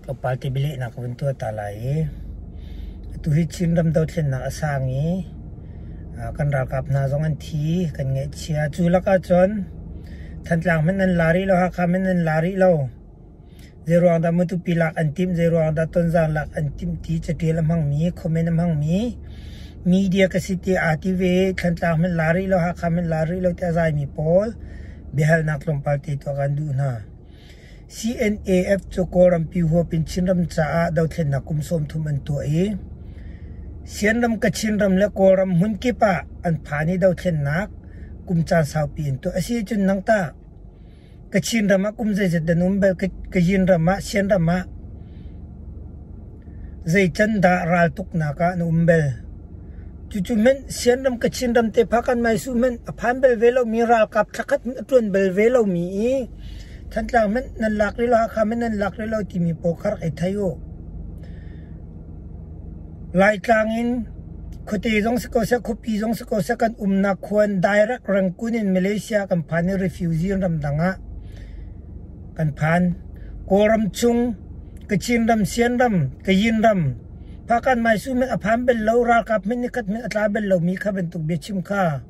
Tlawmpal tibilehnak ka vun tuah ta lai i atuhi Chinram dothlennak a sang i kan ralkap hna zong an thi, kan ngaihchia. Cu lakah cun Thantlang hmanh an la rih lo, Hakha hmanh an la rih lo. Zeiruang dah Matupi lak an timh, zeiruang dah Tonzaan lak an timh ti catial a hmangmi, comment a hmangmi media ka si tiah aa ti ve. Thantlang hmanh la rih lo, Hakha hmanh la rih lo tiah a zaimi pawl biahalnak tlawmpal te tuah kan duh hna. CNAF cu Kawlrampi huap in Chinram caah dothlennak kum sawmthum an tuah i Sianram, Kachinram le Kawlram hmunkip ah an phan i dothlennak kum caan saupi an tuah. Asi ahcun nang tah Kachin ram ah kum zeizat an um bel? Kayin ram ah, Sianram ah zeican dah raltuknak ah na um bel? Cucu men Sianram, Kachinram te pha kan mai su men a phan bel ve lomi ralkap thlakhat a tuan bel ve lomi i Thantlang hmanh nan lak rih lo, Hakha hmanh nan lak rih lo timi pawl kha rak i thei u. Laitlang in khuate zong si ko seh, khuapi zong si ko seh, kan umnak khua in direct Rangoon in Malaysia kan phan i refugee in ramdang ah kan phan. Kawlram chung, Kachin ram, Sian ram, Kayin ram, Phakan Maisu hmanh a phan bel lo, ralkap hmanh nikhat hmanh a tla bel lomi kha bantuk biachim kha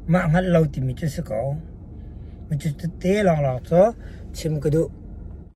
Mah hngalh lo timi cu a si ko. Cucu tete lawnglawng cu chim ka duh.